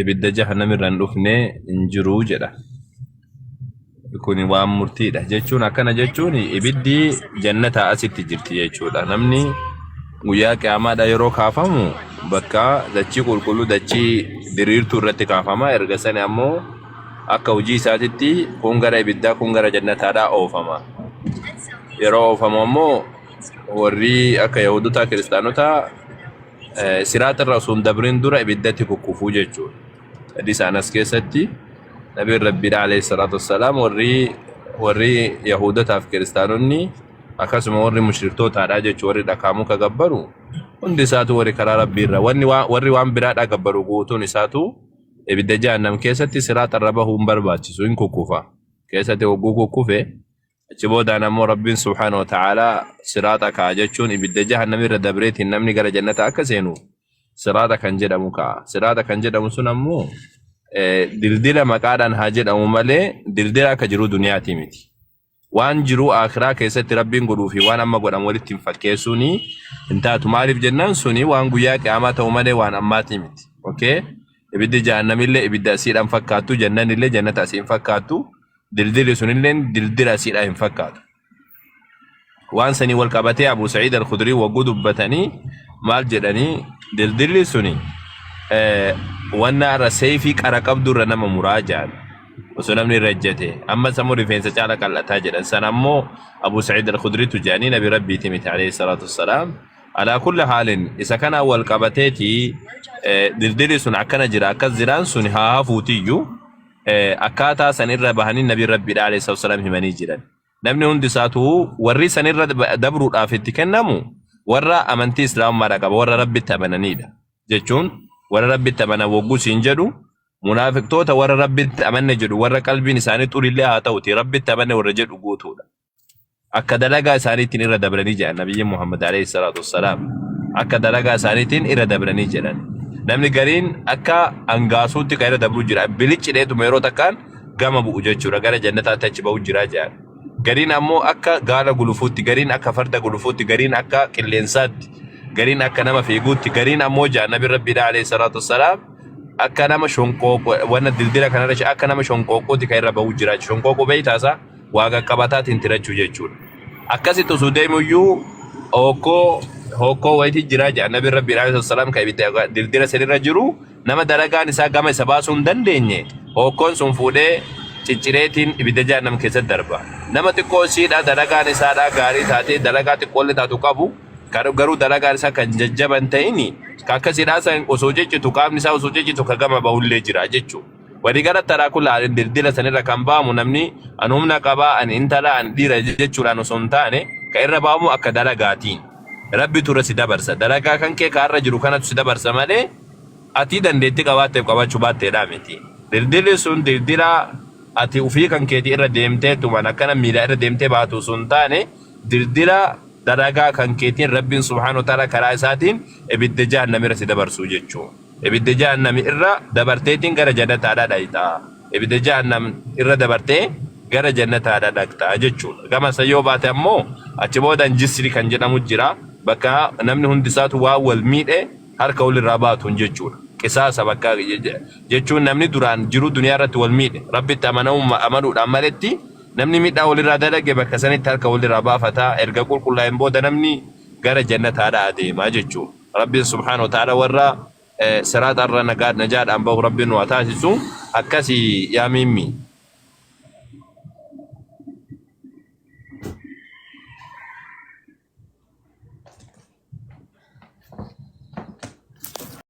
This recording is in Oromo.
ibidda jahannamirra hin dhufne hin jiru jedha. Kun waan murtiidha jechuun akkana jechuun ibiddi jannataa asitti jirti jechuudha. Namni guyyaa qiyaamaadha yeroo kaafamu bakka dachii qulqulluu dachii diriirtuu irratti kaafama. Erga sani ammoo akka hojii isaatitti kun gara ibiddaa kun gara jannataadhaa oofama. Yeroo oofamu ammoo warri akka Yahudotaa kiristaanotaa siraaxirra osoo hin dabrin dura ibiddatti kukkufuu jechuudha. Hadiisa Anas keessatti Nabiin Rabbiidha alayhi salaatu wassalaam warri warri Yahuudotaaf kiristaanonni akkasuma warri mushriktootadha jechuun warri dhakaa muka gabbaru hundi isaatu warri karaa Rabbiirra wanni waa- warri waan biraadha gabbaru guutuun isaatu ibidda jahannam keessatti siraaxarra bahuu hin barbaachisu hin kukkufa keessatti hogguu kukkufe Achi boodaan ammoo Rabbiin subhaana wa ta'aalaa siraaxa ka'a jechuun ibidda jahannamii irra dabreetiin namni gara jannata akka seenu siraaxa kan jedhamu ka'a. Siraaxa kan jedhamu sun ammoo eh, dildila maqaadhaan haa jedhamu malee dildila akka jiru duniyaati miti. Waan jiru akiraa keessatti Rabbiin godhuu fi waan amma godhamu walitti hin fakkeessuun hin taatu. Maaliif jennaan suni waan guyyaa qiyaamaa ta'u malee waan ammaati miti. Okay? Ibiddi jahannamillee ibidda asiidhaan fakkaattu, jannanillee jannata asiin fakkaattu. dildilli sunilleen dildila asiidhaa hin fakkaatu waan sanii wal qabatee abu sa'iid al-khudrii wagguu dubbatanii maal jedhanii dildilli suni eh, wanna irra seeyfii qara qabdu irra nama muraa jedhan osoo namni irra ejjete amma sammuu rifeensa caala qal'ataa jedhan san ammoo abu sa'iid al-khudriitu jedhanii nabi rabbiiti miti alayhi salaatu wassalaam alaa kulli haalin isa kanaan wal qabateeti eh, dildilli sun akkana jira akkas jiraan sun haa hafuutiyyu akkaataa san irra bahanii nabi rabbiidha alayhi salaatu wasalaam himanii jiran namni hundi isaatu warri san irra dabruudhaaf itti kennamu warra amantii islaamummaadha qaba warra rabbitti amananiidha jechuun warra rabbitti amanan wogguu siin jedhu munaafiqtoota warra rabbitti amanne jedhu warra qalbiin isaanii xurillee haa ta'uti rabbitti amanne warra jedhu guutuudha akka dalagaa isaaniitiin irra dabranii jedhan nabiyyi Muhammad alayhi salaatu wassalaam akka dalagaa isaaniitiin irra dabranii jedhan namni gariin akka angaasuutti kan irra dabruu jira biliccidheetuma yeroo takkaan gama bu'u jechuudha gara jannataatti achi ba'u jira jedhan gariin ammoo akka gaala gulufuutti gariin akka farda gulufuutti gariin akka qilleensaatti gariin akka nama fiiguutti gariin ammoo jedhan nabi rabbiidha alayhi salaatu wassalaam akka nama shonqooqoo wanna dildila kanarra akka nama shonqooqooti kan irra ba'u jira shonqooqoo beeytaasaa waa qaqqabataatiin tirachuu jechuudha. Akkasitti osoo deemuyyuu hokkoo hokkoo wayitii jiraa jedha nabi rabbi alayhi salaam kan ibidda dildira sanirra jiru nama dalagaan isaa gama isa baasuu hin dandeenye hokkoon sun fuudhee ciccireetiin ibidda jahannam keessatti darba. Nama xiqqoo isiidha dalagaan isaadha gaarii taatee dalagaa xiqqoolle taatu qabu gar- garuu dalagaan isaa kan jajjaban ta'ini ka akkasiidhaa san osoo ciccitu qaamni isaa osoo ciccitu ka gama bahullee jira jechuudha. Wani gara taraa kula alin dildila sanirra kan ba'amu namni an humna qabaa an intala an dhiira jechuudhaan osoo hin taane ka irra ba'amu akka dalagaatiin. Rabbitu irra si dabarsa. Dalagaa kan kee ka har'a jiru kanatu si dabarsa malee ati dandeetti qabaatteef qabaachuu baatteedhaa miti. Dildilli sun dildila ati ufii kan keeti irra deemteetumaan akkana miila irra deemtee baatu osoo hin taane dildila dalagaa kan keetiin Rabbiin subhaanahu wa ta'ala karaa isaatiin ibidda jahannam irra si dabarsuu jechuudha. Ibidda Jahannam irra dabarteetiin gara jannataadhaa dhayxa. Ibidda Jahannam irra dabartee gara jannataadhaa dhaqxa jechuudha. Gama san yoo baate ammoo achi boodaan jisri kan jedhamu jira. Bakka namni hundi isaatu waan wal miidhe harka walirraa baatuun jechuudha. Qisaasa bakka je- je- jechuun namni duraan jiruu duniyaa irratti wal miidhe rabbitti amanamumma amanuudhaan maletti namni miidhaa walirraa dalage bakka sanitti harka walirraa baafata erga qulqullaa'een booda namni gara jannataadhaa adeema jechuudha. Rabbiin subhaanahu wa ta'aalaa warra siraaxa irra najaadhaan bahu Rabbiin nu haa taasisu. Akkasi yaa miimmi.